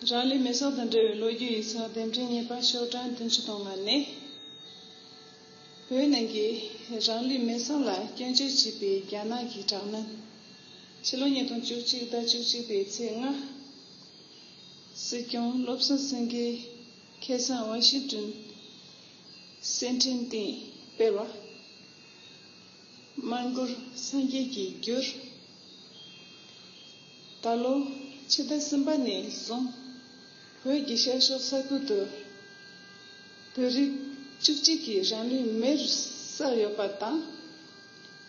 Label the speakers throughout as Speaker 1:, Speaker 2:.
Speaker 1: རང་ལུས་མེ་སྲོག་དང་འབྲེལ་བའི་ལོ་རྒྱུས་ཡིག་ཚང་རྟེན་འབྲེལ་གཉིས་པ་ཤོག་གྲངས་བདུན་ཅུ་དང་ལྔ་ནི། བོད་ནང་གི་རང་ལུས་མེ་སྲོག་ལ་སྐྱོན་བརྗོད་བྱས་པའི་རྒྱ་ནག་གི་དྲག་གནོན། ཕྱི་ལོ་ཉིས་སྟོང་བཅུ་གཅིག་ཟླ་བཅུ་གཅིག་པའི་ཚེས་ལྔ། སྲིད་སྐྱོང་བློ་བཟང་སེང་གེའི་ཁེ་བཟང་དབང་ཤེད་བསྐྲུན། སེམས་འཕྲིན་སྟེང་སྤེལ་བ། དམར་འགྱུར་སངས་རྒྱས་ཀྱི་རྒྱུར། ད་ལོ་ཕྱི་ཟླ་གསུམ་པ་ནས་བཟུང་བོད་ཀྱི་ཤར་ཕྱོགས་ས་ཁུལ་དུ་བོད་རིགས་བཅུ་གཅིག་གི་རང་ལུས་མེར་བསྲེགས་ཡོད་པ་དང།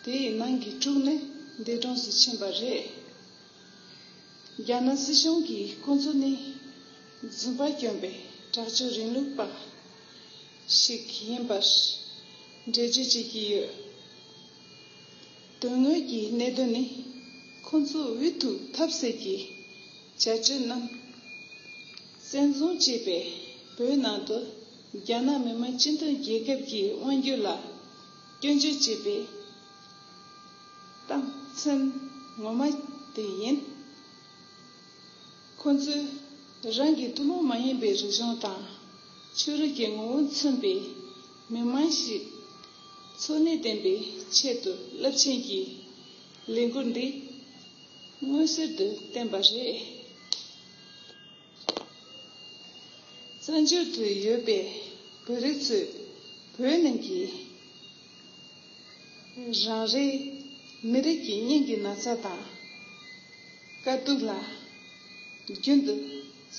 Speaker 1: དེའི་ནང་གི་དྲུག་ནི་འདས་གྲོངས་སུ་ཕྱིན་པ་རེད། རྒྱ་ནག་སྲིད་གཞུང་གིས་ཁོང་ཚོ་ནི། རྫུན་པ་གྱོན་པའི་དྲག་སྤྱོད་རིང་ལུགས་པ་ཞིག་ཡིན་པར་འགྲེལ་བརྗོད་བྱེད་ཀྱི་ཡོད། དོན་དངོས་ཀྱི་གནད་དོན་ནི་ཁོ་ཚོས་འུ་ཐུག་ཐབས་ཟད་ཀྱི་བྱ་སྤྱོད་རྣམས་བཙན་བཟུང་བྱས་པས་བོད་ནང་དུ་རྒྱ་ནག་མི་མང་སྤྱི་མཐུན་རྒྱལ་ཁབ་ཀྱི་དབང་བསྒྱུར་ལ་སྐྱོན་བརྗོད་བྱེད་པའི་རྟགས་མཚན་ངོ་མ་དེ་ཡིན། ཁོ་ཚོས་རང་གི་ཐུན་མོང་མ་ཡིན་པའི་རིག་གཞུང་དང་ཆོས་རིག་གི་ངོ་བོ་མཚོན་པའི་མི་དམངས་ཤིག་འཚོ་གནས་བརྟན་པའི་ཆེད་དུ་རླབས་ཆེན་གྱི་ལས་འགུལ་འདི་མངོན་གསལ་དུ་བསྟན་པ་རེད། བཙན་བྱོལ་དུ་ཡོད་པའི་བོད་རིགས་ཚོས་བོད་ནང་གི། རང་རེའི་མི་རིགས་ཀྱི་སྙིང་གི་ན་ཚ་དང་དཀའ་སྡུག་ལ་རྒྱུན་དུ་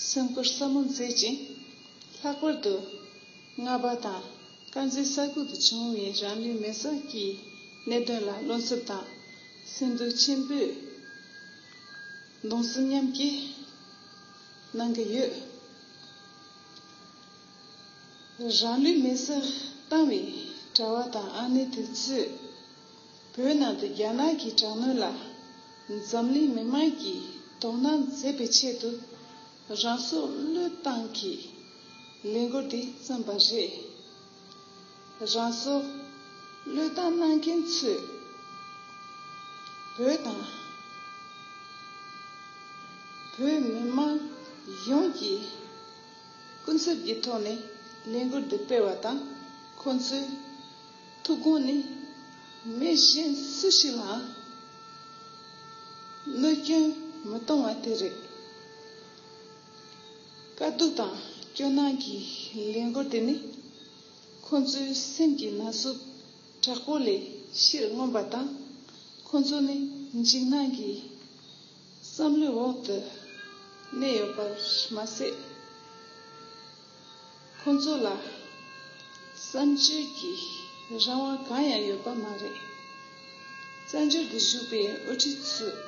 Speaker 1: སེམས་ཁུར་ཟབ་མོ་མཛད་ཅིང། ལྷག་པར་དུ་རྔ་པ་དང་དཀར་མཛེས་ས་ཁུལ་དུ་བྱུང་བའི་རང་ལུས་མེར་བསྲེགས་ཀྱི་གནད་དོན་ལ་བློ་འཚབ་དང་སེམས་སྡུག་ཆེན་པོས་གདུང་སེམས་མཉམ་སྐྱེ་གནང་གི་ཡོད། རང་ལུས་མེ་སར་བཏང་བའི་གྲྭ་བ་དང་ཨ་ནེ་དེ་ཚོས་བོད་ནང་དུ་རྒྱ་ནག་གི་དྲག་གནོན་ལ་འཛམ་གླིང་མི་དམངས་ཀྱིས་དོ་སྣང་མཛད་པའི་ཆེད་དུ་རང་སྲོག་བློས་བཏང་གིས་ལས་འགུལ་འདི་བརྩམས་པ་རེད། རང་སྲོག་བློས་བཏང་གནང་མཁན་ཚོས་བོད་དང། བོད་མི་དམངས་ཡོངས་ཀྱི། སྐུ་ཚབ་ཀྱི་ཐོག་ནས་ལས་འགུལ་འདི་སྤེལ་བ་དང་ཁོང་ཚོའི་ཐུགས་དགོངས་ནི་མི་གཞན་སུ་ཞིག་ལའང་གནོད་སྐྱོན་མི་གཏོང་བ་དེ་རེད། དཀའ་སྡུག་དང་སྐྱོ་སྣང་གི་ལས་འགུལ་དེ་ནི་ཁོང་ཚོའི་སེམས་ཀྱི་ན་ཟུག་དྲག་པོ་ལས་ཕྱིར་མངོན་པ་དང་ཁོང་ཚོ་ནི་འཇིགས་སྣང་གི། བསམ་བློའི་འོག་ཏུ་གནས་ཡོད་པར་མ་ཟད། ཁོ་ཚོ་ལ་བསམ་བརྗོད་ཀྱི་རང་དབང་གང་ཡང་ཡོད་པ་མ་རེད། བཙན་བྱོལ་དུ་བཞུགས་པའི་དབུ་ཁྲིད་ཚོས་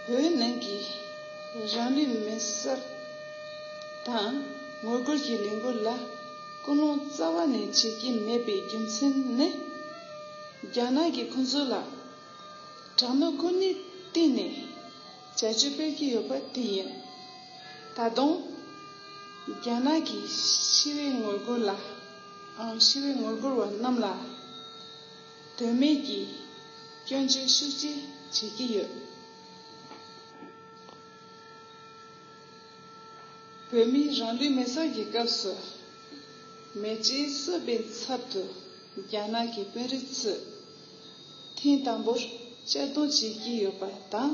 Speaker 1: བོད་ནང་གི་རང་ལུས་མེར་བསྲེགས་དང་ངོ་རྒོལ་གྱི་ལས་འགུལ་ལ་སྐུལ་སློང་རྩ་བ་ནས་བྱེད་ཀྱི་མེད་པའི་རྒྱུ་མཚན་ནི། རྒྱ་ནག་གིས་ཁོ་ཚོ་ལ། དྲང་ནུས་ཀུན་ནས་བསྟེན་ནས་བྱ་སྤྱོད་སྤེལ་གྱི་ཡོད་པ་དེ་ཡིན། ད་དུང། རྒྱ་ནག་གིས་ཤི་བའི་ངོ་རྒོལ་ལ་ཤི་བའི་ངོ་རྒོལ་བ་རྣམས་ལ་དོན་མེད་ཀྱི་སྐྱོན་བརྗོད་ཤུགས་ཆེ་བྱེད་ཀྱི་ཡོད། བོད་མིའི་རང་ལུས་མེ་སྲེག་གི་སྐབས་སུ་མེ་ལྕེའི་གསོད་པའི་ཚབ་ཏུ་རྒྱ་ནག་གི་དཔོན་རིགས་ཚོས། ཐེངས་དང་པོར་གཅར་རྡུང་བྱེད་ཀྱི་ཡོད་པ་དང།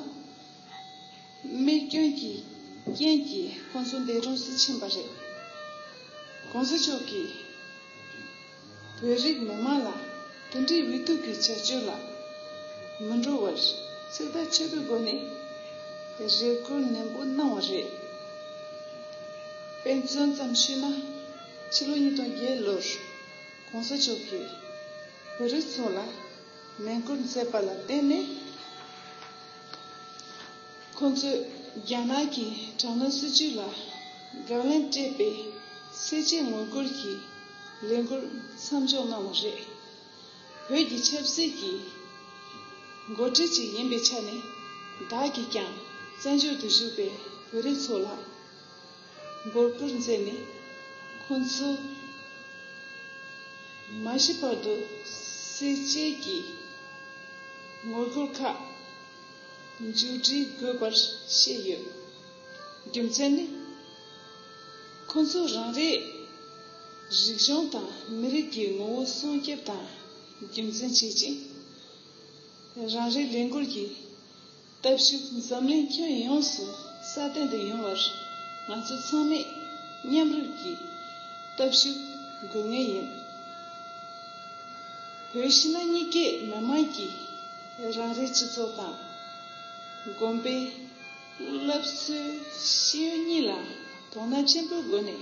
Speaker 1: རྨས་སྐྱོན་གྱི་རྐྱེན་གྱིས་ཁོང་ཚོ་འདས་གྲོངས་སུ་ཕྱིན་པ་རེད། གོང་ས་མཆོག་གིས་བོད་རིགས་མི་དམངས་ལ་དོན་འབྲས་འུད་སྡུག་གི་བྱ་སྤྱོད་ལ་མི་འགྲོ་བར་ཚིག་ཐག་ཆོད་པོའི་སྒོ་ནས་རེ་སྐུལ་ནན་པོ་གནང་བ་རེད། དཔེ་མཚོན་ཙམ་ཞུས་ན་ཕྱི་ལོ་ཉིས་སྟོང་བརྒྱད་ལོར་གོང་ས་མཆོག་གིས། བོད་རིགས་ཚོ་ལ་མེ་འཁོར་མཛད་པ་ལ་བརྟེན་ནས་ཁོང་ཚོས་རྒྱ་ནག་གི་དྲག་གནོན་སྲིད་ཇུས་ལ་དགག་ལན་སྤྲད་པའི་གསལ་བྱེད་ངོ་རྒོལ་གྱི་ལས་འགུལ་མཚམས་འཇོག་གནང་བ་རེད། བོད་ཀྱི་ཆབ་སྲིད་ཀྱི་འགོ་ཁྲིད་ཅིག་ཡིན་པའི་ཆ་ནས་བདག་གིས་ཀྱང་བཙན་བྱོལ་དུ་བཞུགས་པའི་བོད་རིགས་ཚོ་ལ། མགོ་བསྐོར་མཛད་ནས་ཁོ་ཚོས་མ་ཤི་བར་དུ་བསད་རྗེས་ཀྱི་ངོ་རྒོལ་ཁག་མཇུག་སྒྲིལ་དགོས་པར་བཤད་ཡོད། རྒྱུ་མཚན་ནི། ཁོ་ཚོས་རང་རེའི་རིག་གཞུང་དང་མི་རིགས་ཀྱི་ངོ་བོ་སྲུང་སྐྱོབ་དང་རྒྱུན་འཛིན་བྱེད་ཅིང། རང་རེའི་ལས་འགུལ་གྱི། སྟོབས་ཤུགས་འཛམ་གླིང་ཁྱོན་ཡོངས་སུ་སྲ་བརྟན་དུ་ཡོང་བར་ང་ཚོ་ཚང་མས་མཉམ་རུབ་ཀྱིས་སྟོབས་ཤུགས་འགུག་ངེས་ཡིན། བོད་ཕྱི་ནང་གཉིས་ཀའི་མི་དམངས་ཀྱིས་རང་རེའི་སྤྱི་ཚོགས་དང། དགོན་པའི་སློབ་གསོའི་ཤེས་ཡོན་གཉིས་ལ་དོ་སྣང་ཆེན་པོའི་སྒོ་ནས།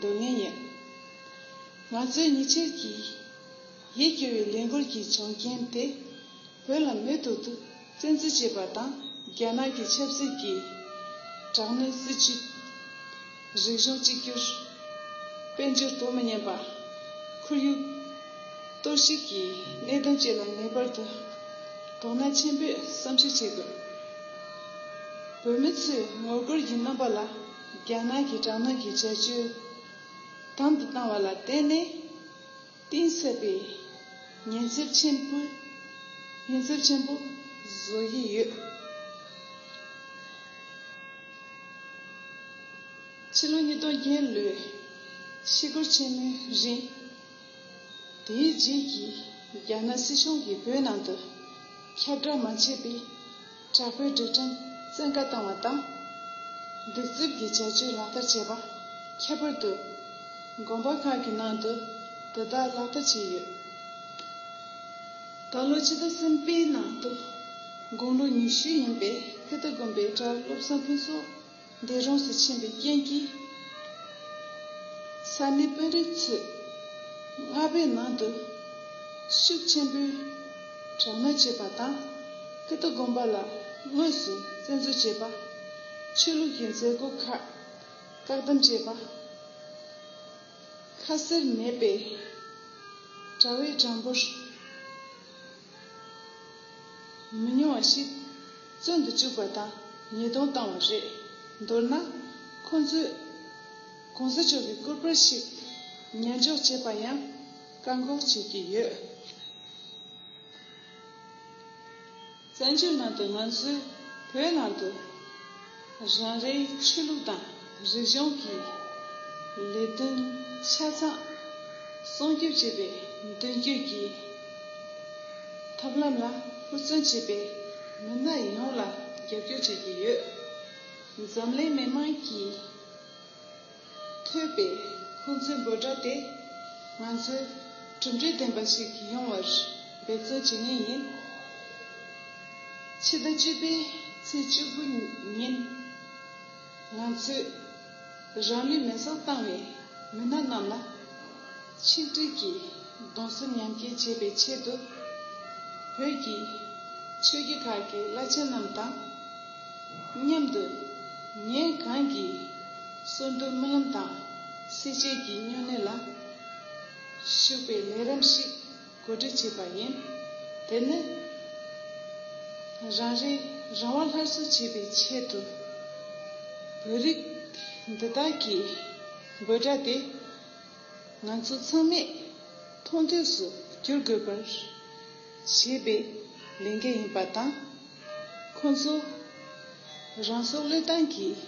Speaker 1: འདོད་ངེས་ཡིན། ང་ཚོའི་ཉི་ཆོས་ཀྱི་ཡིད་སྐྱོ་བའི་ལས་འགུལ་གྱི་བྱུང་རྐྱེན་དེ་བོད་ལ་མེད་དུ་བཙན་འཛུལ་བྱས་པ་དང་རྒྱ་ནག་གི་ཆབ་སྲིད་ཀྱི་དྲག་གནོན་སྲིད་བྱུས། རིག་གཞུང་གཅིག་གྱུར་དཔལ་འབྱོར་དོ་མི་མཉམ་པ། ཁོར་ཡུག་གཏོར་བཤིག་གི་གནད་དོན་བཅས་ལ་ངེས་པར་དུ་དོ་སྣང་ཆེན་པོས་བསམ་གཞིག་བྱེད་དགོས། བོད་མི་ཚོས་ངོ་རྒོལ་གྱི་རྣམ་པ་ལ། རྒྱ་ནག་གི་དྲག་གནོན་གྱི་བྱ་སྤྱོད་དམ་དུ་བཏང་བ་ལ་བརྟེན་ནས་གཏིང་ཟབ་པའི་ཉེན་ཚབས་ཆེན་པོ་བཟོ་ཡི་ཡོད། ཕྱི་ལོ་ཉིས་སྟོང་བརྒྱད་ལོའི་ཕྱི་སྒོར་ཆེན་མོའི་རིང། དེའི་རྗེས་ཀྱི་རྒྱ་ནག་སྲིད་གཞུང་གིས་བོད་ནང་དུ་ཁྱབ་བསྒྲགས་མ་བྱས་པའི་དྲག་པོའི་སྒྲིག་ཁྲིམས་བཙན་བཀའ་བཏང་བ་དང། སྡིག་རྩུབ་ཀྱི་བྱ་སྤྱོད་ལག་བསྟར་བྱས་པ་ཁྱད་པར་དུ། དགོན་པ་ཁག་གི་ནང་དུ་དེ་དག་ལག་བསྟར་བྱས་ཡོད། ད་ལོ་ཕྱི་ཟླ་གསུམ་པའི་ནང་དུ་དགུང་ལོ་ཉི་ཤུ་ཡིན་པའི་ཁི་ཏཱ་དགོན་པའི་གྲྭ་སློབ་ས་ཁུལ་སོགས་འདས་གྲོངས་སུ་ཕྱིན་པའི་རྐྱེན་གྱིས། ས་གནས་དཔོན་རིགས་ཚོས་རྔ་པའི་ནང་དུ་ཤུགས་ཆེན་པོས་དྲག་གནོན་བྱས་པ་དང། ཀི་ཏོ་དགོན་པ་ལ་དངོས་སུ་བཙན་འཛུལ་བྱས་པ། ཆོས་ལུགས་ཀྱི་མཛད་སྒོ་ཁག་བཀག་སྡོམ་བྱས་པ། ཁ་གསལ་མེད་པའི་གྲྭ་བའི་གྲངས་འབོར། མི་ཉུང་བ་ཞིག་བཙོན་དུ་བཅུག་པ་དང་ཉེས་རྡུང་བཏང་བ་རེད། མདོར་ན། ཁོང་ཚོས ྋགོང་ས་མཆོག་གི་སྐུ་པར་ཞིག་ཉན་འཇོག་བྱེད་པར་ཡང་བཀག་འགོག་བྱེད་ཀྱི་ཡོད། བཙན་བྱོལ་ནང་དུ་ང་ཚོའི་བོད་ནང་དུ། རང་རེའི་ཆོས་ལུགས་དང་རིག་གཞུང་གི་ལས་དོན་ཆ་ཚང་སྲུང་སྐྱོབ་བྱེད་པའི་མདུན་སྐྱོད་ཀྱི་ཐབས་ལམ་ལ་ཧུར་བརྩོན་བྱེད་པའི་མི་སྣ་ཡོངས་ལ་རྒྱབ་སྐྱོར་བྱེད་ཀྱི་ཡོད། འཛམ་གླིང་མི་དམངས་ཀྱིས། ཐོས་པས་ཁོང་ཚོའི་འབོད་སྒྲ་དེ་ང་ཚོས་གྲུབ་འབྲས་ལྡན་པ་ཞིག་ཡོང་བར་འབད་བརྩོན་བྱེད་ངེས་ཡིན། ཕྱི་ཟླ་བཅུ་པའི་ཚེས་བཅུ་དགུ་ཉིན་ང་ཚོས་རང་ལུས་མེར་བསྲེགས་བཏང་བའི་མི་སྣ་རྣམས་ལ་ཆིག་སྒྲིལ་གྱིས་གདུང་སེམས་མཉམ་སྐྱེ་བྱེད་པའི་ཆེད་དུ་བོད་ཀྱི་ཆོས་བརྒྱུད་ཁག་གི་བླ་ཆེན་རྣམས་དང། སྙམ་དུ། ངས་གང་གིས་གསོན་གཏོར་རྨི་ལམ་དང་སྲེག་བྱེད་ཀྱི་སྨྱོ་ནད་ལ་ཞུགས་པའི་ལས་རམ་ཞིག་གོ་སྒྲིག་བྱས་པ་ཡིན། དེ་ནི། རང་རེའི་རང་དབང་སླར་གསོ་བྱེད་པའི་ཆེད་དུ། བོད་རིགས་འདི་དག་གི་དགོད་སྒྲ་དེ་ང་ཚོ་ཚང་མས་མཐོང་ཐོས་སུ་བསྒྱུར་དགོས་པར། ཞེས་པའི་ལས་འགན་ཡིན་པ་དང། ཁོང་ཚོས་རང་སྲོག་བློས་བཏང་གིས་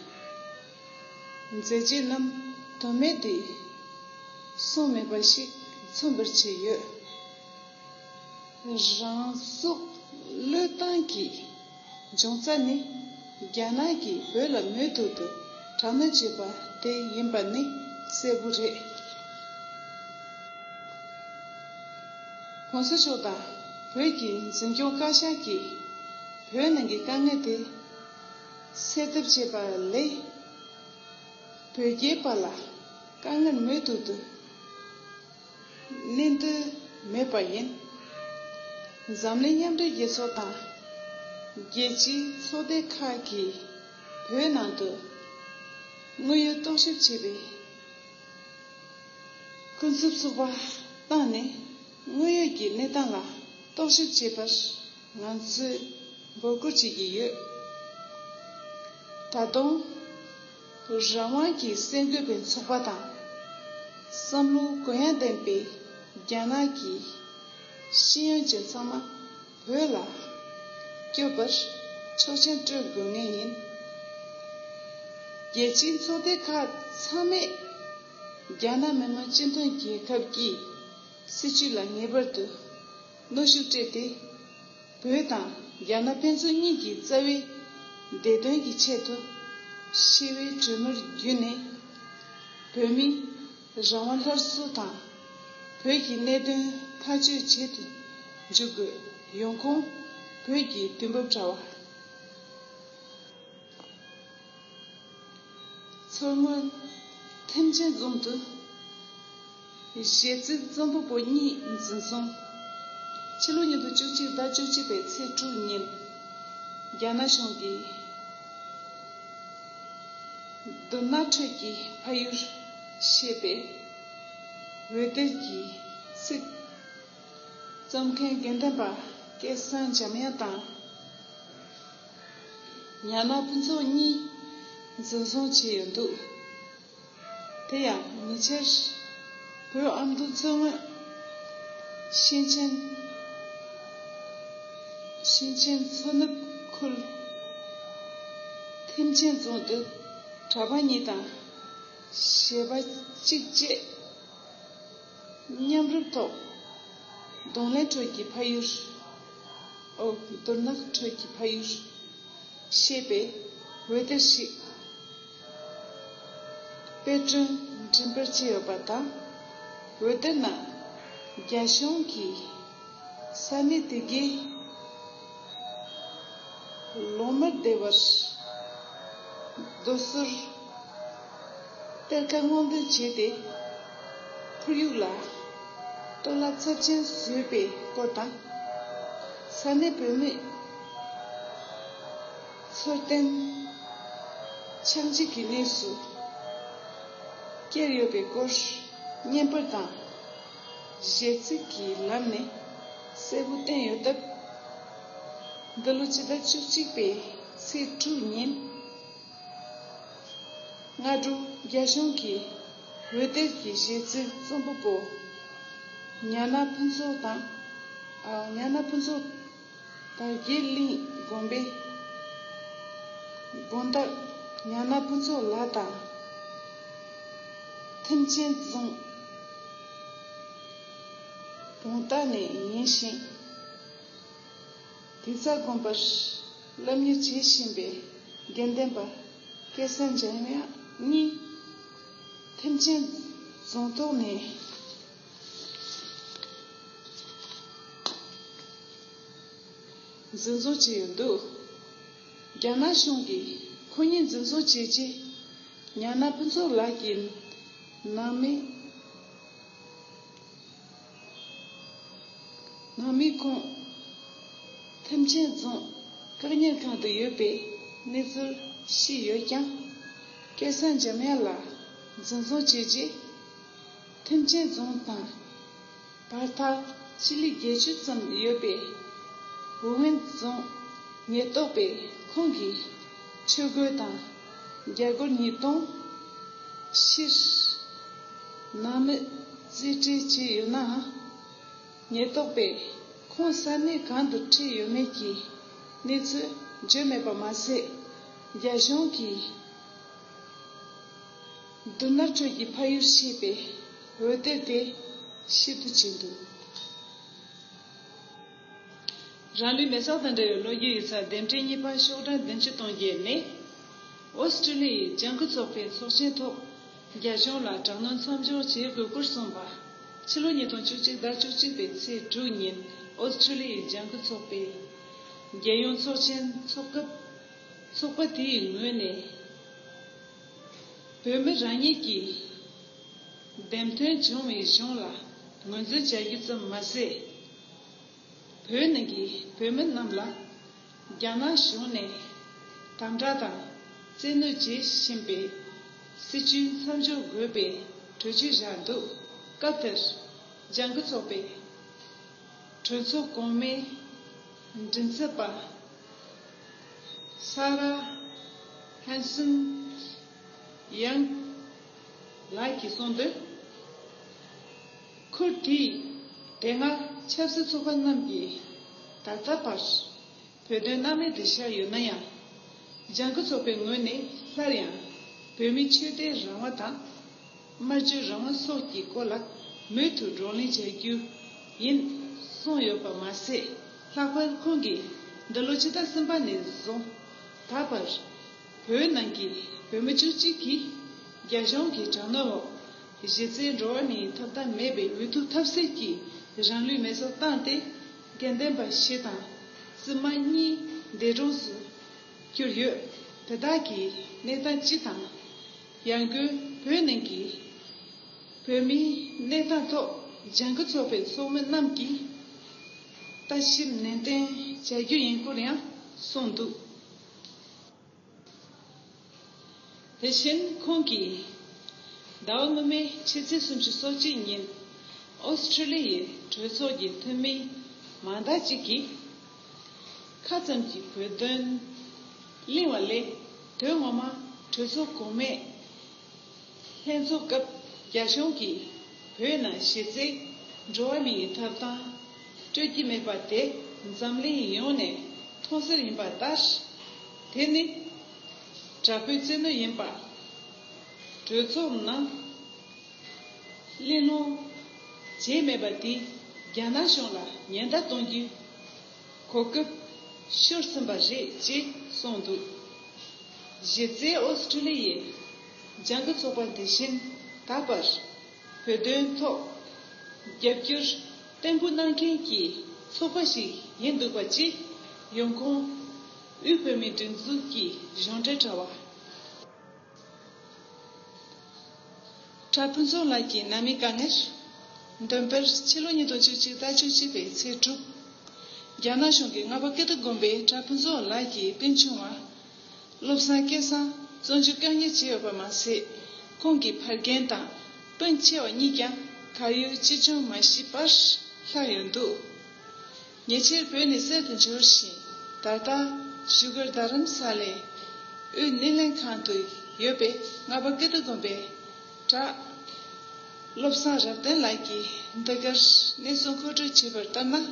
Speaker 1: མཛད་རྗེས་རྣམས་དོན་མེད་དུ་སོང་མེད་པ་ཞིག་མཚོན་པར་བྱས་ཡོད། རང་སྲོག་བློས་བཏང་གིས། འབྱུང་རྩ་ནི། རྒྱ་ནག་གིས་བོད་ལ་མོས་མཐུ་དུ་དྲག་གནོན་བྱས་པ་དེ་ཡིན་པ་ནི་གསལ་བོ་རེད། གོང་ས་མཆོག་དང་བོད་ཀྱི་འཛིན་སྐྱོང་བཀའ་ཤག་གིས་བོད་ནང་གི་དཀའ་ངལ་དེ་སེལ་ཐབས་བྱས་པ་ལས། བོད་རྒྱའི་བར་ལ་དཀའ་ངལ་མོས་མཐུ་དུ། གནས་འདོད་མེད་པ་ཡིན། འཛམ་གླིང་མཉམ་འབྲེལ་རྒྱལ་ཚོགས་དང་རྒྱལ་སྤྱིའི་ཚོགས་སྡེ་ཁག་གིས་བོད་ནང་དུ་དངོས་ཡོད་རྟོག་ཞིབ་བྱེད་པའི་ཀུན་སྤྱོད་བཙུགས་པ་བཏང་ནས་དངོས་ཡོད་ཀྱི་གནས་སྟངས་ལ་རྟོག་ཞིབ་བྱེད་པར་ང་ཚོས་འབོད་སྐུལ་བྱེད་ཀྱི་ཡོད། ད་དུང། རང་དབང་གི་སེམས་འདོད་པའི་ཚོགས་པ་དང། བསམ་བློ་གུ་ཡངས་ལྡན་པའི་རྒྱ་ནག་གི་ཤེས་ཡོན་ཅན་ཚང་མ་བོད་ལ་སྐྱོད་པར་ཆོག་མཆན་སྤྲོད་དགོས་ངེས་ཡིན། རྒྱལ་སྤྱིའི་ཚོགས་སྡེ་ཁག་ཚང་མས་རྒྱ་ནག་མི་དམངས་སྤྱི་མཐུན་རྒྱལ་ཁབ་ཀྱི་སྲིད་བྱུས་ལ་ངེས་པར་དུ་གནོད་ཤུགས་སྤྲད་དེ། བོད་དང་རྒྱ་ནག་ཕན་ཚུན་གཉིས་ཀྱི་རྩ་བའི་བདེ་དོན་གྱི་ཆེད་དུ། ཤི་བའི་གྲོས་མོལ་བརྒྱུད་ནས་བོད་མི་རང་དབང་སླར་གསོ་དང། བོད་ཀྱི་གནད་དོན་ཐག་གཅོད་བྱེད་དུ་འཇུག་དགོས་ཡོང་ཁོངས་བོད་ཀྱི་དུས་བབ་དྲ་བ། མཚོ་སྔོན་ཐེམ་ཆེན་རྫོང་དུ་གཞས་ཚིག་རྩོམ་པ་པོ་གཉིས་འཛིན་བཟུང། ཕྱི་ལོ་ཉིས་སྟོང་བཅུ་གཅིག་ཟླ་བཅུ་གཅིག་པའི་ཚེས་དྲུག་ཉིན་རྒྱ་ནག་གཞུང་གིས་སྡུག་ནག་ཁྲོད་ཀྱི་ཕ་ཡུལ་ཞེས་པའི་འོད་སྡེར་གྱི་ཚིག་རྩོམ་མཁན་དགེ་འདུན་པ་སྐལ་བཟང་འཇམ་དབྱངས་དང། ཉག་མ་ཕུན་ཚོགས་གཉིས་འཛིན་བཟུང་བྱས་ཡོད་འདུག་དེ་ཡང་ཉེ་ཆར། བོད་ཨ་མདོ་མཚོ་སྔོན་ཞིང་ཆེན་ཞིང་ཆེན་མཚོ་ནུབ་ཁུལ་ཐེམ་ཆེན་རྫོང་དུ་གྲྭ་པ་གཉིས་དང་གཞས་པ་གཅིག་བཅས་མཉམ་རུབ་ཐོག་གདོང་ལེན་ཁྲོད་ཀྱི་ཕ་ཡུལ། མདོར་ན་དྲོད་ཀྱི་ཕ་ཡུལ། ཞེས་པའི་འོད་སྡེར་ཞིག་དཔེ་སྐྲུན་མགྲིན་པར་བཅས་ཡོད་པ་དང། འོད་སྡེར་ནང་རྒྱ་གཞུང་གིས་ས་གནས་དེ་གའི་ལོ་མར་སྡེ་བར་སྡོད་ཟུར། གཏེར་ཁ་སྔོག་འདོན་བྱས་ཏེ་ཁོར་ཡུག་ལ་གཏོར་བརླག་ཚབས་ཆེན་བཟོས་པའི་སྐོར་དང། ས་གནས་བོད་མི་ཚོར་གཏན་འཆམ་བྱེད་ཀྱི་གནས་སུ་བསྐྱལ་ཡོད་པའི་སྐོར་བརྙན་དཔར་དང་གཞས་ཚིག་གི་ལམ་ནས་གསལ་པོ་བསྟན་ཡོད་སྟབས། འདི་ལོ་སྤྱི་ཟླ་བཅུ་གཅིག་པའི་ཚེས་དྲུག་ཉིན། སྔ་དྲོ་རྒྱ་གཞུང་གིས་འོད་སྡེར་གྱི་གཞས་ཚིག་རྩོམ་པ་པོ་ཉག་ན་ཕུན་ཚོགས་དང་ཉག་ན་ཕུན་ཚོགས་དར་རྒྱས་གླིང་དགོན་པའི་དགོན་བདག་ཉག་ན་ཕུན་ཚོགས་ལགས་དང། ཐེམ་ཆེན་རྫོང་བོང་སྟག་ནས་ཡིན་ཞིང། དེ་རྩ་དགོན་པར་བསླབ་གཉེར་བྱེད་བཞིན་པའི་དགེ་ལྡན་པ་སྐལ་བཟང་འཇམ་དབྱངས་གཉིས། ཐེམ་ཆེན་རྫོང་ཐོག་ནས་འཛིན་བཟུང་བྱས་ཡོད་འདུག་རྒྱ་ནག་གཞུང་གིས་ཁོ་གཉིས་འཛིན་བཟུང་བྱས་རྗེས་ཉག་ནག་ཕུན་ཚོགས་ལགས་ཀྱི་ནང་མི། ནང་མི་ཁོངས་ཐེམ་ཆེན་རྫོང་བཀག་ཉར་ཁང་དུ་ཡོད་པའི་གནས་ཚུལ་ཤེས་ཡོད་ཀྱང། སྐལ་བཟང་འཇམ་དབྱངས་ལགས་འཛིན་བཟུང་བྱས་རྗེས། ཐེམ་ཆེན་རྫོང་དང་བར་ཐག་སྤྱི་ལེ་བརྒྱད་ཅུ་ཙམ་ཡོད་པའི་ཝུའུ་ཝེན་རྫོང་ཉེན་རྟོག་པས་ཁོང་གི་ཆོས་གོས་དང། རྒྱལ་སྒོར་ཉིས་སྟོང། ཕྱིར། ནང་མི་རྩིས་སྤྲད་ཀྱི་ཡོད་ནའང། ཉེན་རྟོག་པས་ཁོང་ས་གནས་གང་དུ་ཁྲིད་ཡོད་མེད་ཀྱི་གནས་ཚུལ་བརྗོད་མེད་པ་མ་ཟད། རྒྱ་གཞུང་གིས་སྡུག་ནར་ཁྲོད་ཀྱི་ཕ་ཡུལ་ཞེས་པའི་འོད་སྡེར་དེ་ཤེས་རྟོགས་བྱས་འདུག། རང་ལུས་མེ་སྲེག་དང་འབྲེལ་བའི་ལོ་རྒྱུས་ཡིག་ཚགས་འདེམས་ཁྲིད་གཉིས་པ་ཤོག་གྲངས་བདུན་ཅུ་སྟོང་བརྒྱད་ནས། ཨོ་སི་ཀྲི་ལི་ཡི་ལྗང་ཁུ་ཚོགས་པའི་ཚོགས་ཆེན་ཐོག་རྒྱ་གཞུང་ལ་དྲག་གནོན་མཚམས་འཇོག་བྱེད་དགོས་སྐོར་གསུངས་པ། ཕྱི་ལོ་ཉིས་སྟོང་བཅུ་གཅིག་ཟླ་བཅུ་གཅིག་པའི་ཚེས་དྲུག་ཉིན་ཨོ་སི་ཀྲི་ལི་ཡི་ལྗང་ཁུ་ཚོགས་པས་རྒྱལ་ཡོངས་ཚོགས་ཆེན་འཚོགས་སྐབས། ཚོགས་པ་དེའི་ངོས་ནས་བོད་མི་རང་ཉིད་ཀྱི་འདེམས་ཐོན་བྱུང་བའི་གཞུང་ལ་ངོས་འཛིན་བྱ་རྒྱུ་ཙམ་མ་ཟད། བོད་ནང་གི་བོད་མི་རྣམས་ལ་རྒྱ་ནག་གཞུང་ནས་དམ་དྲག་དང་བཙན་གནོད་བྱེད་བཞིན་པའི་སྲིད་བྱུས་མཚམས་འཇོག་དགོས་པའི་གྲོས་ཆོད་བཞག་འདུག་སྐབས་དེར་ལྗང་ཁུ་ཚོགས་པའི་གྲོས་ཚོགས་གོང་མའི་མགྲིན་ཚབ་པ Sarah Hanson-Young ལགས་ཀྱིས་གསུངས་དོན། ཁུར་བྲིས། དེ་སྔ་ཆབ་སྲིད་ཚོགས་པ་རྣམས་ཀྱིས་ད་ལྟ་བར་བོད་དོན་སྣང་མེད་དུ་བཞག་ཡོད་ན་ཡང། ལྗང་ཁུ་ཚོགས་པའི་ངོས་ནས་སླར་ཡང་བོད་མིའི་ཆོས་དད་རང་དབང་དང། སྨྲ་བརྗོད་རང་དབང་སོགས་ཀྱི་སྐོར་ལ་མུ་མཐུད་བགྲོ་གླེང་བྱ་རྒྱུ་ཡིན་གསུངས་ཡོད་པ་མ་ཟད། ལྷག་པར་ཁོང་གིས་འདི་ལོ་ཕྱི་ཟླ་གསུམ་པ་ནས་བཟུང་ད་བར། བོད་ནང་གི་བོད་མི་བཅུ་གཅིག་གིས་རྒྱ་གཞུང་གི་དྲག་གནོན་འོག། གཞི་རྩའི་འགྲོ་བ་མིའི་ཐོབ་ཐང་མེད་པའི་འུ་ཐུག་ཐབས་ཟད་ཀྱི་རང་ལུས་མེ་སྲོག་བཏང་སྟེ་དགེ་ལྡན་པ་ཞིག་དང་བཙུན་མ་གཉིས་འདས་གྲོངས་སུ་གྱུར་ཡོད། དེ་དག་གི་གནས་སྟངས་སྤྱི་དང། ཡང་སྒོས་བོད་ནང་གི་བོད་མིའི་གནས་སྟངས་ཐོག་ལྗང་ཁུ་ཚོགས་པའི་ཚོགས་མི་རྣམས་ཀྱིས་ལྟ་ཞིབ་ནན་ཏན་བྱ་རྒྱུ་ཡིན་སྐོར་ཡང་གསུངས་འདུག། དེ་བཞིན་ཁོང་གིས། ཟླ་བ་སྔོན་མའི་ཕྱི་ཚེས་སུམ་ཅུ་སོ་གཅིག་ཉིན་ཨོསི་ཁྲི་ལི་ཡའི་གྲོས་ཚོགས་ཀྱི་འཐུས་མི་མང་དག་ཅིག་གིས། ཁ་ཙམ་གྱི་བོད་དོན་གླེང་བ་ལས་དོན་ངོ་མ་གྲོས་ཚོགས་གོང་མས། ལྷན་ཚོགས་སྐབས་རྒྱ་གཞུང་གིས་བོད་ནང་གཞི་རྩའི་འགྲོ་བ་མིའི་ཐོབ་ཐང་སྤྲོད་ཀྱི་མེད་པ་དེ་འཛམ་གླིང་ཡོངས་ནས་མཐོང་གསལ་ཡིན་པ་ལྟར། དེ་ནི་དྲག་པོའི་བཙན་གནོན་ཡིན་པ། གྲོས་ཚོགས་ནང་གླེང་སློང་བྱས་མེད་པ་དེས་རྒྱ་ནག་གཞུང་ལ་ཉེན་བརྡ་གཏོང་རྒྱུའི་གོ་སྐབས་ཤོར་ཟིན་པ་རེད་ཅེས་གསུངས་འདུག་གཞི་རྩའི་ཨོ་སི་ཁྲུ་ལི་ཡའི་སྦྱང་གི་ཚོགས་པ་དེ་བཞིན་དག་པར་བོད་དོན་ཐོག་རྒྱབ་སྐྱོར་བརྟན་པོ་གནང་མཁན་གྱི་ཚོགས་པ་ཞིག་ཡིན་འདུག་པ་སྤྱི་ཡོངས་ཁོངས་དབུས་བོད་མིའི་སྒྲིག་འཛུགས་ཀྱི་གཞུང་འབྲེལ་དྲ་བ། གྲྭ་སྤུན་ཚོགས་ལགས་ཀྱིས་ནང་མི་དཀའ་ངལ་འདོན་པར་ཕྱི་ལོ་ཉིས་སྟོང་བཅུ་གཅིག་ཟླ་བཅུ་གཅིག་པའི་ཚེས་དྲུག་རྒྱ་ནག་གཞུང་གིས་རྔ་པ་ཀིརྟི་དགོན་པའི་གྲྭ་སྤུན་ཚོགས་ལགས་ཀྱི་སྤུན་ཆུང་བ་བློ་བཟང་སྐལ་བཟང་བཙོན་འཇུག་བཀག་ཉར་བྱས་ཡོད་པ་མ་ཟད། ཁོང་གི་ཕ་རྒན་དང་སྤུན་མཆེད་བ་གཉིས་ཀྱང་གར་ཡོད་ཅི་བྱུང་མ་ཤེས་པར་ལྷག་ཡོད་འདུག་ཉེ་ཆེར་བོད་ནས་གསེར་དུ་འབྱོར་བཞིན་ད་ལྟ་བཞུགས་སྒར་རྡ་རམ་ས་ལའི་དབུས་སྣེ་ལེན་ཁང་དུ་ཡོད་པའི་རྔ་པ་ཀིརྟི་དགོན་པའི་གྲྭ་བློ་བཟང་རབ་བརྟན་ལགས་ཀྱིས་འདི་གར་གནས་ཚུལ་མཁོ་སྤྲོད་བྱས་པར་ལྟར་ན།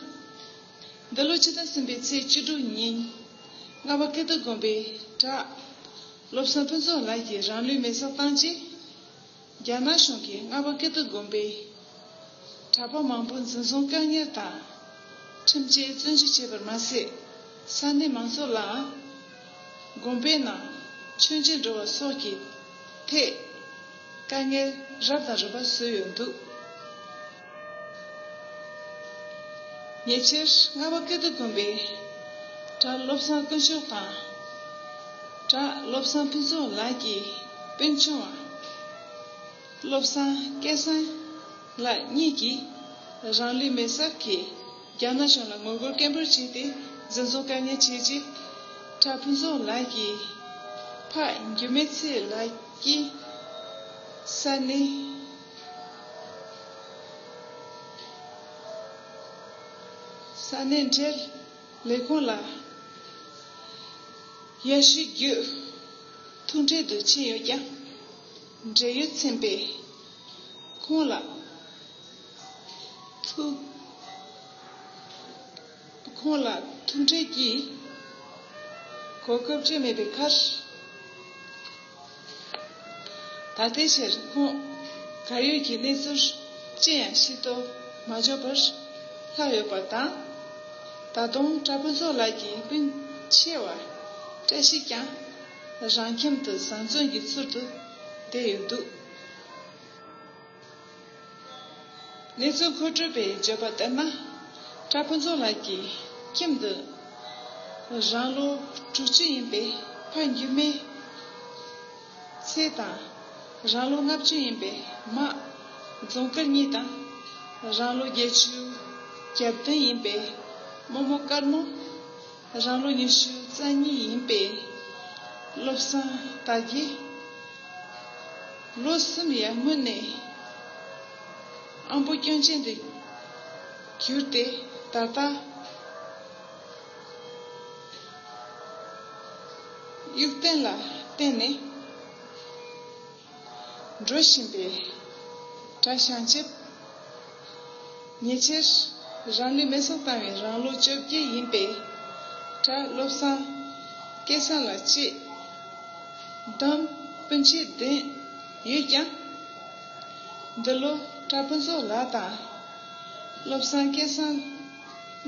Speaker 1: འདི་ལོ་ཕྱི་ཟླ་གསུམ་པའི་ཚེས་བཅུ་དྲུག་ཉིན། རྔ་བ་ཀིརྟི་དགོན་པའི་གྲྭ་སློབ་བསམ་ཕུན་ཚོགས་ལགས་ཀྱིས་རང་ལུས་མེར་བསྲེགས་བཏང་རྗེས། རྒྱ་ནག་གཞུང་གིས་རྔ་བ་ཀིརྟི་དགོན་པའི་གྲྭ་པ་མང་པོ་འཛིན་བཟུང་བཀག་ཉར་དང། ཁྲིམས་བཅད་བཙོན་འཇུག་བྱས་པར་མ་ཟད། ས་གནས་མང་ཚོགས་ལའང་དགོན་པའི་ནང་མཆོད་མཇལ་འགྲོ་བ་སོགས་ཀྱི་ཐད་དཀའ་ངལ་རབ་དང་རིམ་པ་བཟོས་ཡོད་འདུག། ཉེ་ཆར་རྔ་བ་ཀིརྟི་དགོན་པའི་གྲྭ་བློ་བཟང་དཀོན་མཆོག་དང་གྲྭ་བློ་བཟང་ཕུན་ཚོགས་ལགས་ཀྱི་དཔོན་ཆུང་བ་བློ་བཟང་སྐལ་བཟང་ལགས་གཉིས་ཀྱིས་རང་ལུས་མེར་སྲེག་གིས་རྒྱ་ནག་གཞུང་ལ་ངོ་རྒོལ་སྐད་འབོད་བྱས་ཏེ་འཛིན་བཟུང་བཀག་ཉར་བྱས་རྗེས་གྲྭ་ཕུན་ཚོགས་ལགས་ཀྱི་ཕ་འགྱུར་མེད་ཚེ་ལགས་ཀྱིས་ས་གནས། ས་གནས་འབྲེལ་ལས་ཁང་ལ་ཡར་ཞུ་བརྒྱུད་ཐུག་འཕྲད་དུ་ཕྱིན་ཡོད་ཀྱང་འབྲེལ་ཡོད་ཚན་པས་ཁོང་ལ་ཐུག་ཁོང་ལ་ཐུག་འཕྲད་ཀྱི་གོ་སྐབས་བཅས་མེད་པའི་ཁར། ད་ལྟའི་ཆར་ཁོང་ག་ཡོད་ཀྱི་གནས་ཚུལ་ཅི་ཡང་ཤེས་རྟོགས་མ་འབྱོར་བར་ལྷག་ཡོད་པ་དང། ད་དུང་གྲྭ་ཕུན་ཚོགས་ལགས་ཀྱི་སྤུན་ཆེ་བ་བཀྲ་ཤིས་ཀྱང་རང་ཁྱིམ་དུ་བཟང་བཙོན་གྱི་ཚུལ་དུ་བསྡད་ཡོད་འདུག། ནེ་ཙོ་མཁོ་སྤྲོད་པས་བརྗོད་པ་ལྟར་ན། ཀྲ་ཕུན་ཚོགས་ལགས་ཀྱི་ཁྱིམ་དུ་རང་ལོ་དྲུག་ཅུ་ཡིན་པའི་ཕ་འགྱུར་མའི་ཚེ་དང། རང་ལོ་ལྔ་བཅུ་ཡིན་པའི་མ་རྫོང་དཀར་གཉིས་དང། རང་ལོ་བརྒྱད་ཅུ་གྱ་བདུན་ཡིན་པའི་རྨོ་མོ་དཀར་མོ། རང་ལོ་ཉི་ཤུ་རྩ་གཉིས་ཡིན་པའི་བློ་བཟང་དག་གིས། ལོ་གསུམ་ཡར་སྔོན་ནས་ཨམ་བུ་སྐྱོན་ཅན་དུ་གྱུར་ཏེ་ད་ལྟ་དབྱུག་སྟེང་ལ་བརྟེན་ནས། འགྲོ་བཞིན་པའི་གྲྭ་ཤང་བཅས་ཉེ་ཆར་རང་ལུས་མེ་སྲེག་བཏང་བའི་རང་ལོ་བཅོ་བརྒྱད་ཡིན་པའི་གྲྭ་བློ་བཟང་སྐལ་བཟང་ལགས་བཅས་བདམས་དཔོན་བྱས་བསྡད་ཡོད་ཀྱང། འདི་ལོ་གྲྭ་དཔོན་ཚོགས་ལགས་དང་བློ་བཟང་སྐལ་བཟང་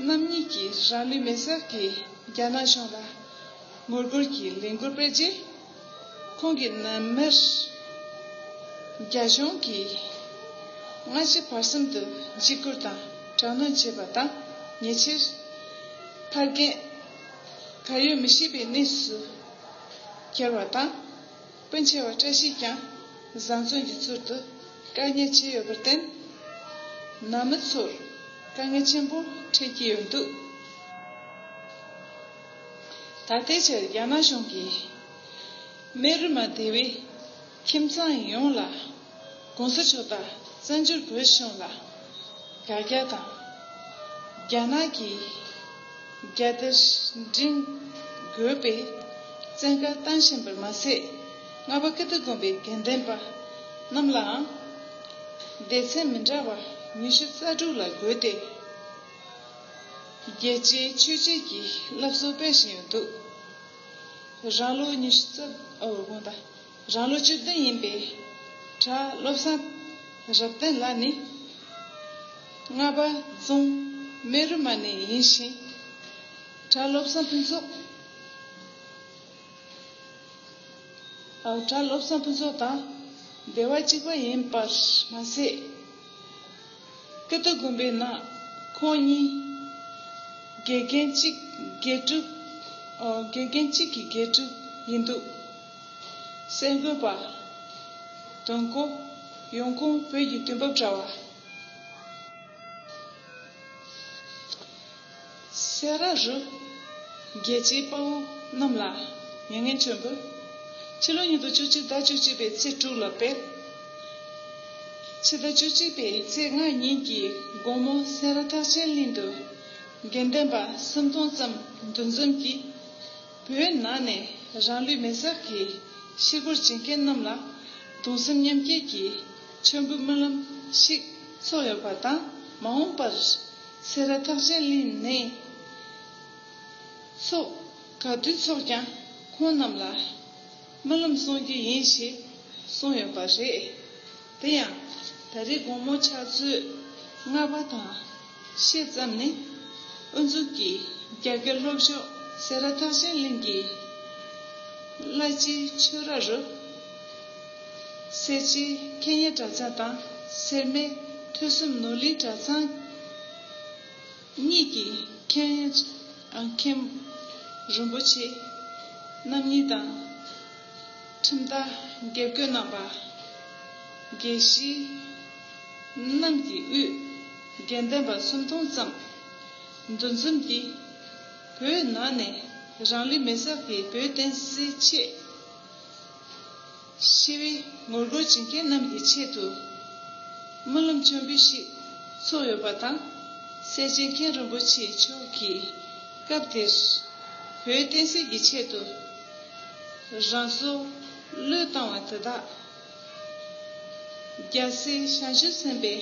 Speaker 1: རྣམ་གཉིས་ཀྱིས་རང་ལུས་མེ་སྲེག་གིས་རྒྱ་ནག་གཞུང་ལ་ངོ་རྒོལ་གྱི་ལས་འགུལ་སྤེལ་རྗེས། ཁོང་གི་རྣམ་མེར་རྒྱ་གཞུང་གིས་སྔ་ཕྱི་བར་གསུམ་དུ་འཇིགས་སྐུལ་དང་དྲག་གནོན་བྱས་པ་དང་ཉེ་ཆེར། ཕ་རྒན། ད་ཡོད་མི་ཤེས་པའི་གནས་སུ་གྱར་བ་དང། སྤུན་ཆེ་བ་བཀྲ་ཤིས་ཀྱང་བཟང་བཙོན་གྱི་ཚུལ་དུ་བཀག་ཉར་བྱས་ཡོད་པར་བརྟེན། ནང་མི་ཚོར་དཀའ་ངལ་ཆེན་པོ་འཕྲད་ཀྱི་ཡོད་འདུག། ད་ལྟའི་ཆར་རྒྱ་ནག་གཞུང་གིས་སྨན་རི་མ་སྡེ་བའི་ཁྱིམ་ཚང་ཡོངས་ལ་གོང་ས་མཆོག་དང་བཙན་བྱོལ་བོད་གཞུང་ལ་དགག་རྒྱག་དང། རྒྱ་ནག་གི་རྒྱལ་དར་བསྒྲེངས་དགོས་པའི་བཙན་བཀའ་བཏང་བཞིན་པར་མ་ཟད་རྔ་པ་ཀིརྟི་དགོན་པའི་དགེ་ལྡན་པ་རྣམས་ལའང་སྡེ་ཚན་མི་འདྲ་བ་ཉི་ཤུ་རྩ་དྲུག་ལ་བགོས་ཏེ། རྒྱལ་སྤྱིའི་ཆོས་བྱེད་ཀྱི་སློབ་གསོ་སྤེལ་བཞིན་ཡོད་འདུག་རང་ལོ་ཉི་ཤུ་རྩ་དགུ་དང་རང་ལོ་བཅུ་བདུན་ཡིན་པའི་གྲྭ་བློ་བཟང་རབ་བརྟན་ལགས་ནི་རྔ་པ་རྫོང་སྨད་རུ་མ་ནས་ཡིན་ཞིང། གྲྭ་བློ་བཟང་ཕུན་ཚོགས་དང་སྡེ་བ་གཅིག་པ་ཡིན་པར་མ་ཟད། ཀི་ཏི་དགོན་པའི་ནང་ཁོང་གཉིས་དགེ་རྒན་གཅིག་དགེ་ཕྲུག་དགེ་རྒན་གཅིག་གི་དགེ་ཕྲུག་ཡིན་འདུག་གསར་འགོད་པ་དོན་གོ་ཡོང་ཁུངས་བོད་ཀྱི་དུས་བབ་དྲ་བ། སེ་ར་རུ། རྒྱལ་སྤྱིའི་དཔའ་བོ་རྣམས་ལ་མྱ་ངན་བྱོན་ཕུལ། ཕྱི་ལོ་ཉིས་སྟོང་བཅུ་གཅིག་ཟླ་བཅུ་གཅིག་པའི་ཚེས་དྲུག་ལ་སྤེལ། ཕྱི་ཟླ་བཅུ་གཅིག་པའི་ཚེས་ལྔ་ཉིན་གྱི་དགོང་མོ་སེ་ར་ཐག་ཆེན་གླིང་དུ། དགེ་ལྡན་པ་སུམ་སྟོང་ཙམ་འདུ་འཛོམས་ཀྱིས། བོད་ནང་ནས་རང་ལུས་མེར་སྲེག་གིས་ཤི་སྒོར་འབྱིན་མཁན་རྣམས་ལ་གདུང་སེམས་མཉམ་སྐྱེད་ཀྱི་མཆོད་འབུལ་སྨོན་ལམ་ཞིག་ཚོགས་ཡོད་པ་དང་མ་འོངས་པར། སེ་ར་ཐགས་ཆེན་གླིང་ནས་སོགས་ག་དུས་ཚོགས་ཀྱང་ཁོང་རྣམས་ལ་སྨོན་ལམ་གསུང་རྒྱུ་ཡིན་ཞེས་གསུངས་ཡོད་པ་རེད། དེ་ཡང་ད་རེས་དགོང་མོ་ཕྱག་ཚོད་ལྔ་པ་དང་ཤས་ཙམ་ནས་དབུ་འཛུགས་ཀྱིས་རྒྱ་སྐད་ལྷོ་ཕྱོགས་སེ་ར་ཐགས་ཆེན་གླིང་གི་བླ་སྤྱིའི་ཆོས་ར་རུ། སེར་བྱེས་མཁས་གཉེར་གྲྭ་ཚང་དང་སེར་སྨད་ཐོས་གསུམ་ནོར་གླིང་གྲྭ་ཚང་གཉིས་ཀྱི་མཁན། རིན་པོ་ཆེ་རྣམ་གཉིས་དང། ཁྲིམས་རྟ་དགེ་བསྐོས་རྣམ་པ། དགེ་བཤེས་རྣམས་ཀྱི་དབུས་དགེ་ལྡན་པ་སུམ་སྟོང་ཙམ་འདུ་འཛོམས་ཀྱིས་བོད་ནང་ནས་རང་ལི་མེ་སག་གི་བོད་བསྟན་སྲིད་ཆེད། ཤི་བའི་ངོ་རྒོལ་བྱེད་མཁན་རྣམས་ཀྱི་ཆེད་དུ། སྨོན་ལམ་མཆོད་འབུལ་ཞིག་ཚུགས་ཡོད་པ་དང། སེར་བྱེས་མཁན་རིན་པོ་ཆེ་མཆོག་གིས་སྐབས་དེར། བོད་བསྟན་སྲིད་ཀྱི་ཆེད་དུ། རང་སྲོག་བློས་བཏང་བ་དེ་དག། རྒྱལ་སྲས་ཞང་ཞུང་སེམས་པའི་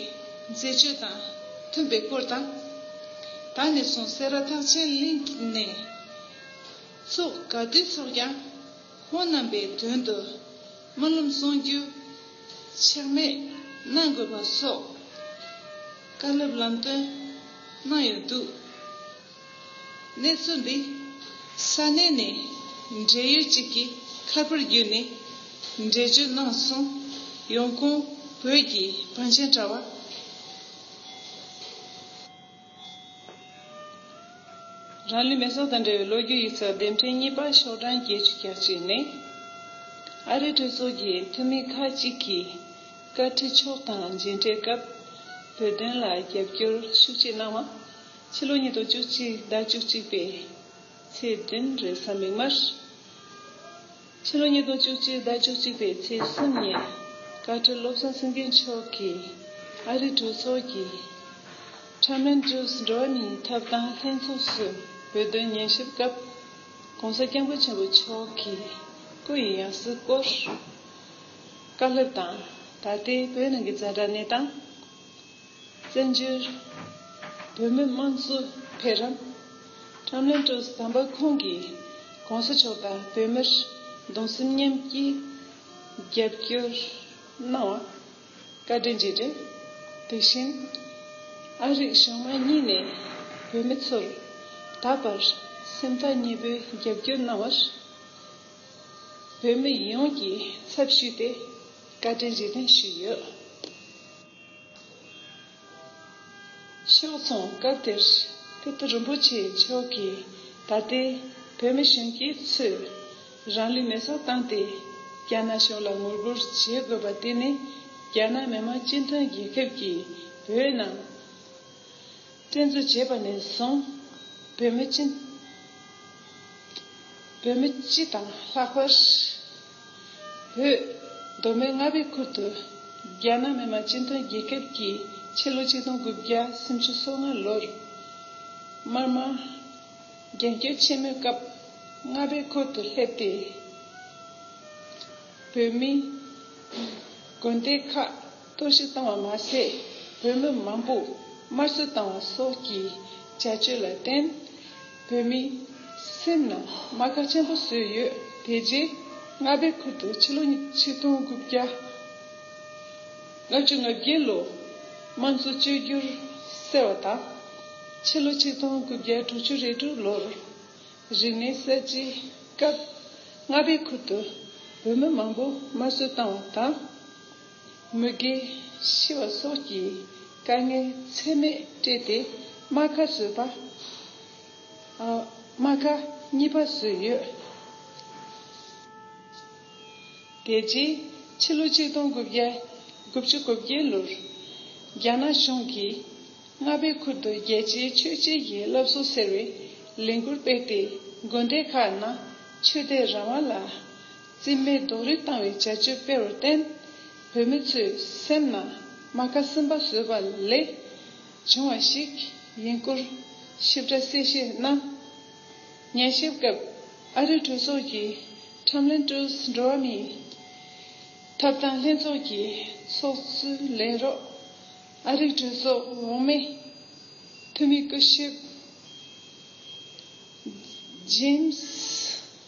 Speaker 1: མཛད་སྤྱོད་དང་མཐུན་པའི་སྐོར་དང། ད་ནས་བཟུང་སེ་ར་ཐག་ཆེན་གླིང་ནས། ཚོགས་དགའ་བསྡུས་ཚོགས་ཀྱང། ཁོང་རྣམས་པའི་དོན་དུ་སྨོན་ལམ་གསུང་རྒྱུ་ཆག་མེད་གནང་དགོས་པ་སོགས་བཀའ་སློབ་ལམ་སྟོན་གནང་ཡོད་འདུག་གནས་ཚུལ་འདི་ས་གནས་ནས་འབྲེལ་ཡོད་ཅིག་གི་ཁ་པར་བརྒྱུད་ནས་འགྲེལ་བརྗོད་གནང་སོང་ཡོང་ཁོང་བོད་ཀྱི་བང་ཆེན་དྲ་བ། རང་ལུས་མེ་སྲོག་དང་འབྲེལ་བའི་ལོ་རྒྱུས་ཡིག་ཚགས་ལྡེབ་འཕྲེང་གཉིས་པ་ཤོག་གྲངས་བརྒྱད་ཅུ་གྱ་གཅིག་ནི། ཨ་རིའི་གྲོས་ཚོགས་ཀྱི་འཐུས་མི་ཁག་ཅིག་གིས་བཀའ་ཁྲི་མཆོག་དང་མཇལ་འཕྲད་སྐབས་བོད་དོན་ལ་རྒྱབ་སྐྱོར་ཤུགས་ཆེ་གནང་བ། ཕྱི་ལོ་ཉིས་སྟོང་བཅུ་གཅིག་ཟླ་བཅུ་གཅིག་པའི་ཚེས་བདུན་རེས་གཟའ་མིག་དམར། ཕྱི་ལོ་ཉིས་སྟོང་བཅུ་གཅིག་ཟླ་བཅུ་གཅིག་པའི་ཚེས་གསུམ་ཉིན་བཀའ་ཁྲི་བློ་བཟང་སེང་གེ་མཆོག་གིས་ཨ་རི་གྲོས་ཚོགས་ཀྱི་ཁྲ་མན་ཏྲུས་འགྲོ་བ་མིའི་ཐབ་ཐང་ལྷན་ཚོགས་སུ་བོད་དོན་ཉན་ཞིབ་སྐབས ྋགོང་ས ྋསྐྱབས་མགོན་ཆེན་པོ་མཆོག་གིས་སྐུ་ཡི་ཡང་སྲིད་སྐོར་བཀའ་སློབ་དང་ད་ལྟའི་བོད་ནང་གི་འཛིན་གྲྭ་གནས་སྟངས། བཙན་བྱོལ་བོད་མི་དམངས་གཙོ་འཕེལ་རིམ་ཁྲོམ་ལེན་ཀྲོའུ་དམ་པ་ཁོང་གིས་གོང་ས་མཆོག་དང་བོད་མིར་གདུང་སེམས་མཉམ་སྐྱེའི་རྒྱབ་སྐྱོར་གནང་བ་བཀའ་དྲིན་རྗེས་དྲན། དེ་བཞིན་ཨ་རིག་གཞུང་མང་གཉིས་ནས་བོད་མི་ཚོར་ད་བར་སེམས་ཐག་ཉེ་པོའི་རྒྱབ་སྐྱོར་གནང་བར་བོད་མི་ཡོངས་ཀྱི་ཚབ་ཞུས་ཏེ་བཀའ་དྲིན་རྗེས་དྲན་ཞུས་ཡོད། ཕྱོགས་མཚུངས་སྐབས་དེར་ཀིརྟི་རིན་པོ་ཆེ་མཆོག་གིས་ད་ལྟའི་བོད་མི་གཞོན་སྐྱེས་ཚོས་རང་ལུས་མེ་སྲེག་བཏང་སྟེ་རྒྱ་ནག་གཞུང་ལ་ངོ་རྒོལ་བྱེད་དགོས་པ་དེ་ནི་རྒྱ་ནག་མི་དམངས་སྤྱི་མཐུན་རྒྱལ་ཁབ་ཀྱིས་བོད་ནང་བཙན་འཛུལ་བྱས་པ་ནས་བཟུང་བོད་མི་སྤྱི་དང་ལྷག་པར། བོད། མདོ་སྨད་རྔ་བའི་ཁུལ་དུ། རྒྱ་ནག་མི་མང་སྤྱི་མཐུན་རྒྱལ་ཁབ་ཀྱི་ཕྱི་ལོ་གཅིག་སྟོང་དགུ་བརྒྱ་སུམ་ཅུ་སོ་ལྔ་ལོར། དམར་དམག། རྒྱལ་སྐྱོབ་ཆེན་མོའི་སྐབས། རྔ་བའི་ཁུལ་དུ་སླེབས་ཏེ། བོད་མི། དགོན་སྡེ་ཁག། གཏོར་བཤིག་བཏང་བ་མ་ཟད་བོད་མི་མང་པོ་དམར་གསོད་བཏང་བ་སོགས་ཀྱི་བྱ་སྤྱོད་ལ་བརྟེན། བོད་མིའི་སེམས་ནང་རྨ་ཁ་ཆེན་པོ་བཟོས་ཡོད་དེ་རྗེས་རྔ་པའི་ཁུལ་དུ་ཕྱི་ལོ་ཆིག་སྟོང་དགུ་བརྒྱ་ལྔ་བཅུ་ང་བརྒྱད་ལོ་དམངས་གཙོ་བཅོས་བསྒྱུར་ཟེར་བ་དང། ཕྱི་ལོ་ཆིག་སྟོང་དགུ་བརྒྱ་དྲུག་ཅུ་རེ་དྲུག་ལོར་རིག་གནས་གསར་བརྗེའི་སྐབས་རྔ་པའི་ཁུལ་དུ་བོད་མི་མང་པོ་དམར་གསོད་བཏང་བ་དང། མུ་གེ། ཤི་བ་སོགས་ཀྱི་དཀའ་ངལ་ཚད་མེད་སྤྲད་དེ་རྨ་ཁ་བཟོས་པ། རྨ་ཁ་གཉིས་པ་བཟོས་ཡོད། དེ་རྗེས་ཕྱི་ལོ་གཅིག་སྟོང་དགུ་བརྒྱ་དགུ་བཅུ་དགུ་བརྒྱད་ལོར་རྒྱ་ནག་གཞུང་གིས་རྔ་པའི་ཁུལ་དུ་རྒྱལ་སྤྱིའི་ཆོས་བརྒྱད་ཀྱི་བསླབ་གསོ་ཟེར་བའི་ལས་འགུལ་སྤེལ་ཏེ་དགོན་སྡེ་ཁག་ནང་ཆོས་དད་རང་དབང་ལ་རྩིས་མེད་རྡོ་རིང་བཏང་བའི་བྱ་སྤྱོད་སྤེལ་བར་བརྟེན། བོད་མི་ཚོའི་སེམས་ནང་རྨ་ཁ་སིམ་པ་བཟོས་པ་ལས་བྱུང་བ་ཞིག་ཡིན་སྐོར་ཞིབ་ཕྲ་གསལ་བཤད་གནང། ཉན་ཞིབ་སྐབས་ཨ་རི་གྲོས་ཚོགས་ཀྱི་ཁྲམ་ལན་ཀྲུས་འགྲོ་བ་མིའི་ཐོབ་ཐང་ལྷན་ཚོགས་ཀྱི་ཚོགས་གཙོའི་ལས་རོགས་ཨ་རིག་གྲོས་ཚོགས་འོག་མའི་འཐུས་མི་སྐུ་ཞབས་ཇེམ་སི།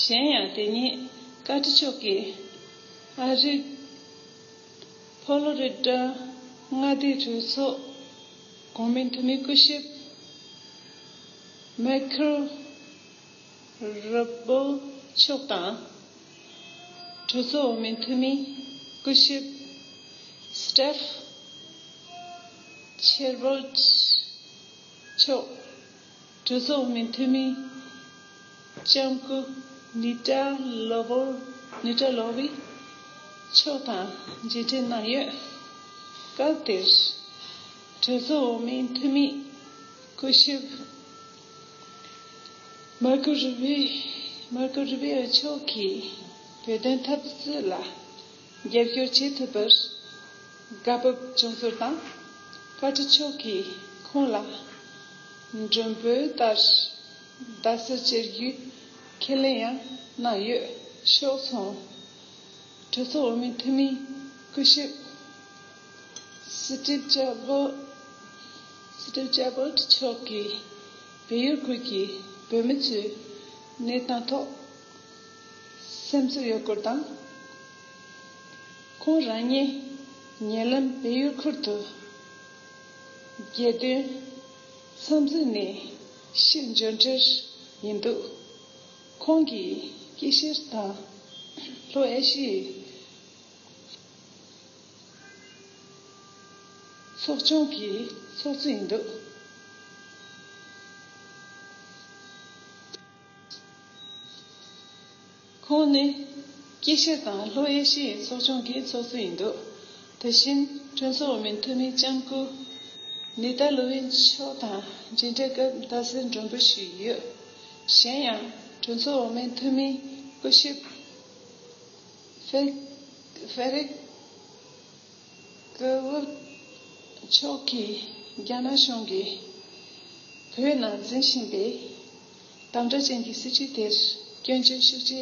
Speaker 1: གཞན་ཡང་དེ་ཉིན་བཀའ་ཁྲི་མཆོག་གིས་ཨ་རི། Florida། མངའ་སྡེའི་གྲོས་ཚོགས་གོང་མའི་འཐུས་མི་སྐུ་ཞབས Michael Rubio མཆོག་དང། གྲོས་ཚོགས་འོག་མའི་འཐུས་མི་སྐུ་ཞབས Steph Chabot མཆོག། གྲོས་ཚོགས་མི་འཐུས་མི་ལྕམ་སྐུ་ནི་ཀྲ་ལོ་བོ་ནི་ཀྲ་ལོ་བི་མཆོག་དང་མཇལ་འཕྲད་གནང་ཡོད། སྐབས་དེར། གྲོས་ཚོགས་མི་འཐུས་མི་སྐུ་ཞབས་མཱར་ཀོ་རུ་བི་མཆོག་གིས་བོད་དོན་འཐབ་རྩོད་ལ་རྒྱབ་སྐྱོར་བྱེད་ཐུབ་པར་དགའ་སྤོབས་བྱུང་ཚུལ་དང། བཀའ་ཁྲི་མཆོག་གིས་ཁོང་ལ་མགྲོན་འབོད་ལྟར་རྡ་སར་བཅར་རྒྱུའི་ཁས་ལེན་ཡང་གནང་ཡོད་ཤོག་ཚོང་གྲོས་ཚོགས་འོས་མི་འཐུས་མིའི་སྐུ་ཞབས Steve Chabot མཆོག་གིས་བལ་ཡུལ་ཁུལ་གྱི་བོད་མི་ཚོའི་གནས་སྟངས་ཐོག་སེམས་སུ་ཡོད་སྐོར་དང། ཁོང་རང་ཉིད་ཉེ་ལམ་བལ་ཡུལ་ཁུལ་དུ་རྒྱལ་དོན་འཚམས་གཟིགས་ནས་ཕྱིར་འབྱོར་འཕྲལ་ཡིན་འདུག་ཁོང་གིས་དཀྱིལ་ཤེར་དང་ལྷོ་ཨེ་ཤི་ཡའི་ཚོགས་ཆུང་གི་ཚོགས་གཙོ་ཡིན་འདུག། ཁོང་ནི་སྐྱེས་ཤ་དང་ལྷོ་ཨེ་ཤི་ཡའི་ཚོགས་ཆུང་གི་ཚོགས་གཙོ་ཡིན་འདུག་དེ་བཞིན་གྲོས་ཚོགས་འོག་མིན་འཐུས་མི་ལྕམ་སྐུ་ནི་ད་ལུ་ཝེ་མཆོག་དང་མཇལ་འཕྲད་སྐབས་ཟླ་ཟེར་མགྲོན་འབོད་ཞུས་ཡོད། གཞན་ཡང་གྲོས་ཚོགས་འོག་མིན་འཐུས་མི་སྐུ་ཞབས་ཧྥེ་རིག་ཀེ་ཝུ་མཆོག་གིས་རྒྱ་ནག་གཞུང་གིས་བོད་ནང་འཛིན་བཞིན་པའི། དམ་བསྒྲགས་ཅན་གྱི་སྲིད་བྱུས་དེར་སྐྱོན་བརྗོད་ཤུགས་ཆེ་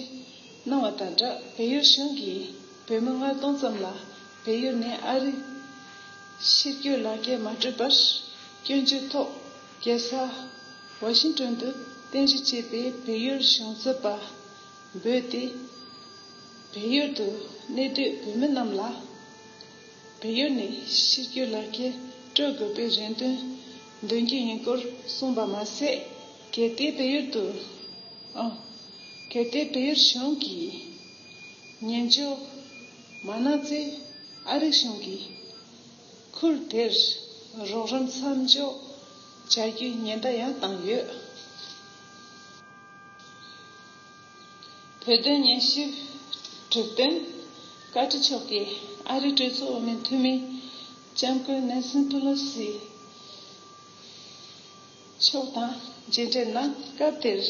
Speaker 1: གནང་བ་དང་སྦྲགས་བལ་ཡུལ་གཞུང་གིས་བོད་མི་ལྔ་སྟོང་ཙམ་ལ་བལ་ཡུལ་ནས་ཨ་རི་ཕྱིར་སྐྱོད་ལག་འཁྱེར་མ་སྤྲོད་པར་སྐྱོན་བརྗོད་ཐོག་རྒྱལ་ས་ཝ་ཤིང་ཀྲོན་དུ་རྟེན་གཞི་བྱས་པའི་བལ་ཡུལ་གཞུང་རྩོད་པ་འབོད་དེ་བལ་ཡུལ་དུ་གནས་སྡོད་བོད་མི་རྣམས་ལ། བལ་ཡུལ་ནས་ཕྱིར་སྐྱོད་ལག་འཁྱེར་སྤྲོད་དགོས་པའི་རེ་འདུན་འདོན་རྒྱུ་ཡིན་སྐོར་གསུངས་པ་མ་ཟད། གལ་ཏེ་བལ་ཡུལ་དུ། གལ་ཏེ་བལ་ཡུལ་གཞུང་གིས་ཉན་འཇོག་མ་གནང་ཚེ་ཨ་རིག་གཞུང་གིས་ཁུལ་དེར་རོགས་རམ་མཚམས་འཇོག་བྱ་རྒྱུའི་ཉེན་བརྡ་ཡང་བཏང་ཡོད། བོད་དོན་སྙན་ཞུའི་གྲུབ་དོན་བཀའ་ཁྲི་མཆོག་གིས་ཨ་རིའི་གྲོས་ཚོགས་འོས་མི་འཐུས་མི་ལྕམ་སྐུ་ནན་སི་པི་ལོ་སི་མཆོག་དང་མཇལ་འཕྲད་གནང་སྐབས་དེར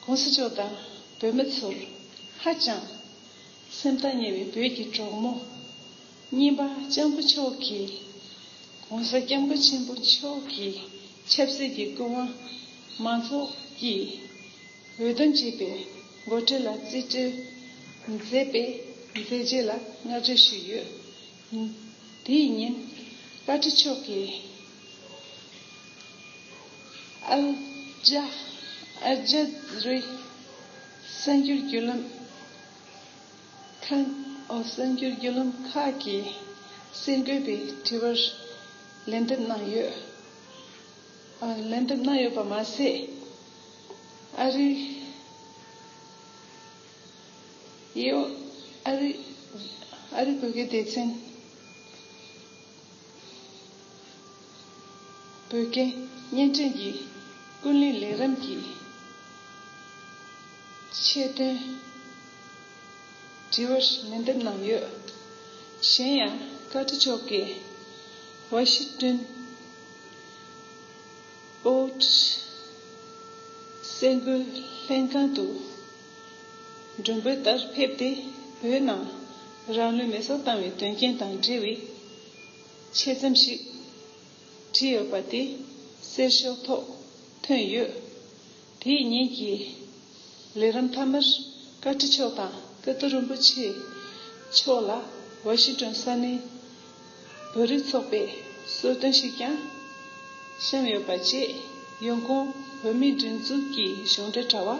Speaker 1: ྋགོང་ས་མཆོག་དང་བོད་མི་ཚོར་ཧ་ཅང་སེམས་ཐག་ཉེ་བའི་བོད་ཀྱི་གྲོགས་མོ་རྙིང་པ་ལྕམ་སྐུ་མཆོག་གིས ྋགོང་ས ྋསྐྱབས་མགོན་ཆེན་པོ་མཆོག་གི་ཆབ་སྲིད་ཀྱི་སྐུ་དབང་མང་ཚོགས་ཀྱིས་འོད་དོན་གཅིག་པའི་མགོ་ཁྲིད་ལ་རྩིས་སྤྲོད་མཛད་པའི་མཛད་རྗེས་ལ་བསྔགས་བརྗོད་ཞུས་ཡོད། དེའི་ཉིན། བཀའ་ཁྲི་མཆོག་གིས་ཨལ་ཇ་ཨལ་ཇ་རི་གསར་འགྱུར་བརྒྱུད་ལམ་ཁང་གསར་འགྱུར་བརྒྱུད་ལམ་ཁག་གི་གསལ་འགོད་པའི་དྲི་བར་ལན་འདེབས་གནང་ཡོད། ལན་འདེབས་གནང་ཡོད་པ་མ་ཟད། ཨ་རིའི་བོད་སྐད་སྡེ་ཚན་བོད་སྐད་བརྙན་འཕྲིན་གྱི་ཀུན་གླེང་ལས་རིམ་གྱི་ཆེད་དོན་དྲི་བར་ལན་འདེབས་གནང་ཡོད། གཞན་ཡང་བཀའ་ཁྲི་མཆོག་གིས་ཝ་ཤི་ཀྲུན། ཨོའོ། སེམས་འགུལ་ལྷན་ཁང་དུ་མགྲོན་འབོད་ལྟར་ཕེབས་ཏེ་བོད་ནང་རང་ལུས་མེ་གསོད་བཏང་བའི་དོན་རྐྱེན་དང་འབྲེལ་བའི་ཆེད་རྩོམ་ཞིག་བྲིས་ཡོད་པ་དེ་གསེར་ཞོ་ཐོག་ཐོན་ཡོད། དེ་ཡི་ཉིན་གྱི་ལས་རིམ་མཐའ་མར་བཀའ་ཁྲི་མཆོག་དང་ཀིརྟི་རིན་པོ་ཆེ་མཆོག་ལ་ཝཱ་ཤིང་ཏོན་ས་གནས་བོད་རིགས་ཚོགས་པས་གསོལ་སྟོན་ཞིག་ཀྱང་བཤམས་ཡོད་པ་བཅས་ཡོང་ཁུངས་བོད་མིའི་སྒྲིག་འཛུགས་ཀྱི་གཞུང་འབྲེལ་དྲ་བ།